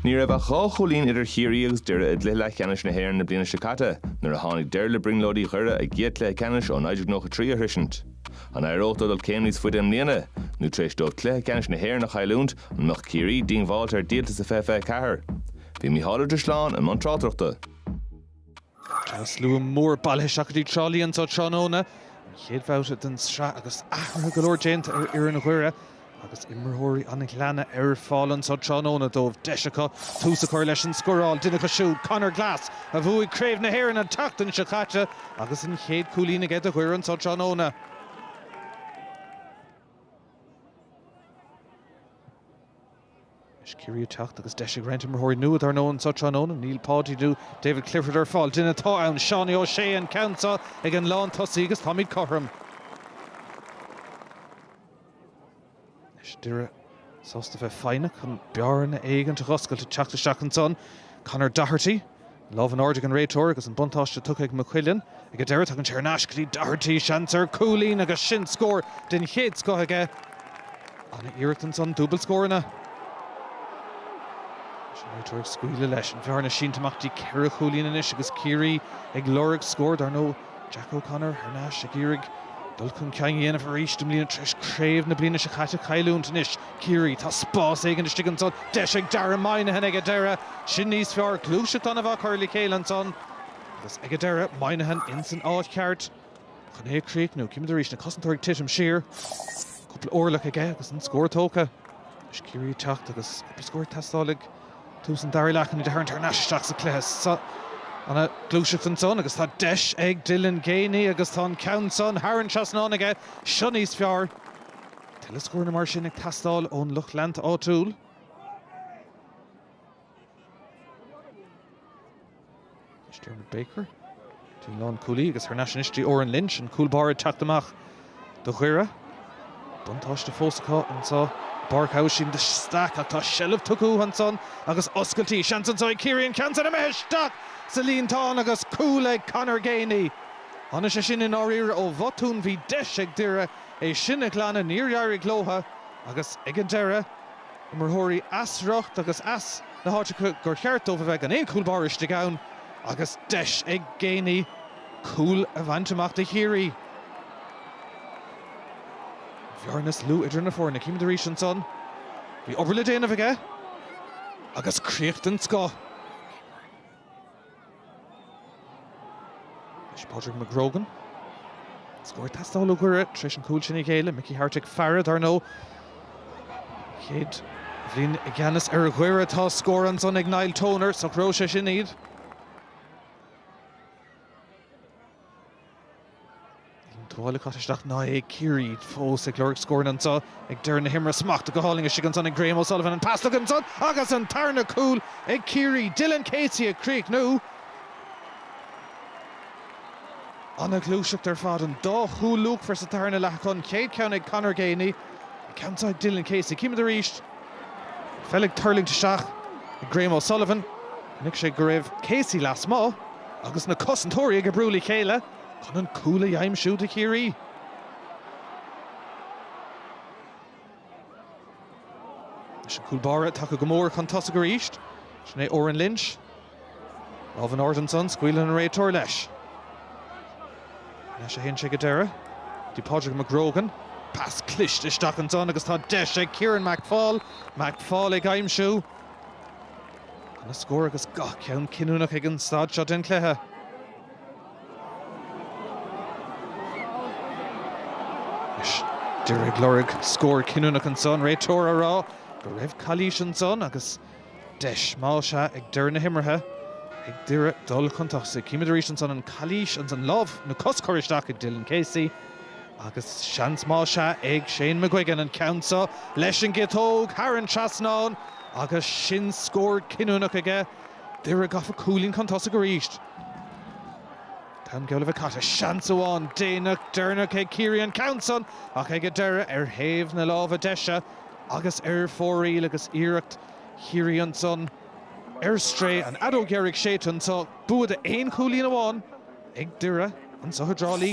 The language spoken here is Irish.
Ní raibh ach dhá chúilín idir Chiarraí agus Doire i gcluiche leathcheannais na hÉireann na bliana seo caite nuair a tháinig deireadh le brionglóidí Dhoire a gcéad chluiche ceannais ó 1993 a shroisint. An éireodh leo dul céim níos faide i mbliana, nó tar éis dóibh cluiche ceannais na hÉireann a chailliúint, an mbeadh Ciarraí díongbháilte ar dhíoltas i 2024? Bhí Micheál Ó Drisleáin i mbun tráchtaireachta. Tá slua mór bailithe isteach i dTrá Lí anseo tráthnóna, an chéad bhabhta den tsraith agus athruithe go leor déanta ar fhoireann Dhoire agus imreoirí an Ghleanna ar fáil anseo tráthnóna dóibh. Deis acu tús a chur leis an scóráil, duine acu siúd, Conor Glass, a bhuaigh Craobh na hÉireann an tseachtain seo caite agus an chéad chúilín aige do Dhoire anseo tráthnóna. Is Ciarraí ag teacht agus deis ag roinnt imreoirí nua, dar ndóigh, anseo tráthnóna, níl Paudie nó David Clifford ar fáil. Duine atá ann, Seánie O'Shea, an ceann seo ag an lán tosaigh agus táimid cothrom. Is Doire sásta bheith foighneach chun bearna éigint a dh'oscailt ag teacht isteach ansan, Conor Doherty. Lámh in airde ag an réiteoir agus an buntáiste tugtha ag McQuillan. Ag an deireadh, tagann sé ar ais go dtí Doherty. Seans ar chúilín agus sin scór den chéad scoth aige. Ana-iarracht ansan, dúbailt scóranna. Réiteoir ag scaoileadh leis. An bhearna sínte amach go dtí ceithre chúilín anois agus Ciarraí ag lorg scór, dar ndóigh. Jack O'Connor thar n-ais ag iarraidh dul chun cinn a dhéanamh arís i mbliana tar éis craobh na bliana seo caite a chailliúint. Anois Ciarraí, tá spás éigin istigh ansan. Deis ag Dara Moynihan ag an deireadh. Sin níos fearr, gluaiseacht ana-mhaith curtha le chéile ansan. Agus ag an deireadh, Moynihan insan áit cheart chun é a chríochnú. Címid arís na cosantóirí ag titim siar. Cúpla orlach aige agus an scór tógtha. Anois Ciarraí ag teacht agus cúpla scór ag teastáil i. dtús an dara leath chun iad a tharraingt thar n-ais isteach sa chluiche seo. Ana-ghluaiseacht ansan agus tá deis ag Dylan Geaney agus tá an ceann san thar an trasnán aige seo níos fearr. Tuilleadh scóranna mar sin ag teastáil ón lucht leanta áitiúil. Anois Diarmuid Baker, den lánchúlaí, agus thar n-ais anois go dtí Odhrán Lynch, an cúl báire, ag teacht amach do Dhoire. Buntáiste fós acu anseo i bPáirc Aibhistín de Staic ach tá seilbh tugtha uathu ansan agus oscailtí. Seans anseo ag Ciarraí an ceann san imithe isteach sa líontán agus cúl ag Conor Geaney. Tháinig sé sin i ndáiríre ó bhotún. Bhí deis ag Doire é sin a ghlanadh. Níor éirigh leo agus ag an deireadh imreoirí as riocht agus as na háiteacha gur cheart dóibh a bheith gan aon chúl báire istigh ann agus deis ag Geaney cúl a bhaint amach do Chiarraí. An bhearna níos lú idir na foirne, címid arís ansan, bhí obair le déanamh aige agus críoch den scoth. Pádraig McGrogan scór ag teastáil ó Dhoire tar éis an cúil sin a ghéilleadh. Mickey Harte ag faire, dar ndóigh. Chéad bhliain i gceannas ar Dhoire. Agus tá scór ansan ag Niall Toner. Socróidh sé sin iad. Tá báil le caitheamh isteach ná é ag Ciarraí fós ag lorg scóranna anseo ag deireadh na himeartha. Smacht go hálainn istigh ansan ag Graham O'Sullivan. An pas isteach ansan agus an tarna cúl ag Ciarraí. Dylan Casey ag críochnú. Ana ghluaiseacht ar fad. An dá chúl luachmhar sa tarna leath acu, an chéad cheann ag Conor Geaney, an ceann seo ag Dylan Casey. Címid arís. Peil ag tuirlingt isteach ag Graham O'Sullivan. Chonaic sé go raibh Casey lasmuigh agus na cosantóirí ag oibriú le chéile chun an cúl a dh'aimsiú do Chiarraí. Is an cúl báire tagtha go mór chun tosaigh arís, sin é Odhrán Lynch. Lámh in airde ansan, scaoileann an réiteoir leis. Leis a théann sé go deireadh, go dtí Pádraig McGrogan. Pas cliste isteach ansan agus tá deis ag Ciarán McFaul. McFaul ag aimsiú an scór agus gach ceann cinniúnach ag an staid seo den chluiche. Anois, Doire ag lorg scór cinniúnach ansan, réiteoir á rá go raibh calaois ansan agus, Deis mhaith is ea ag deireadh na himeartha ag Doire dul chun tosaigh. Címid arís ansan an chalaois, ansan lámh nó cos curtha isteach ag Dylan Casey. Agus seans maith is ea ag Shane McGuigan an ceann seo leis an gciotóg thar an trasnán agus sin scór cinniúnach aige. Doire gafa cúilín chun tosaigh arís. Tá an geall leis caite. Seans amháin déanach deireanach ag Ciarraí an ceann san ach ag dul ar thaobh na láimhe deise. agus ar fóraoil agus iarracht Chiarraí ansan ar strae an fheadóg dheiridh séidte anseo, bua d'aon chúilín amháin ag Doire anseo i dTrá Lí.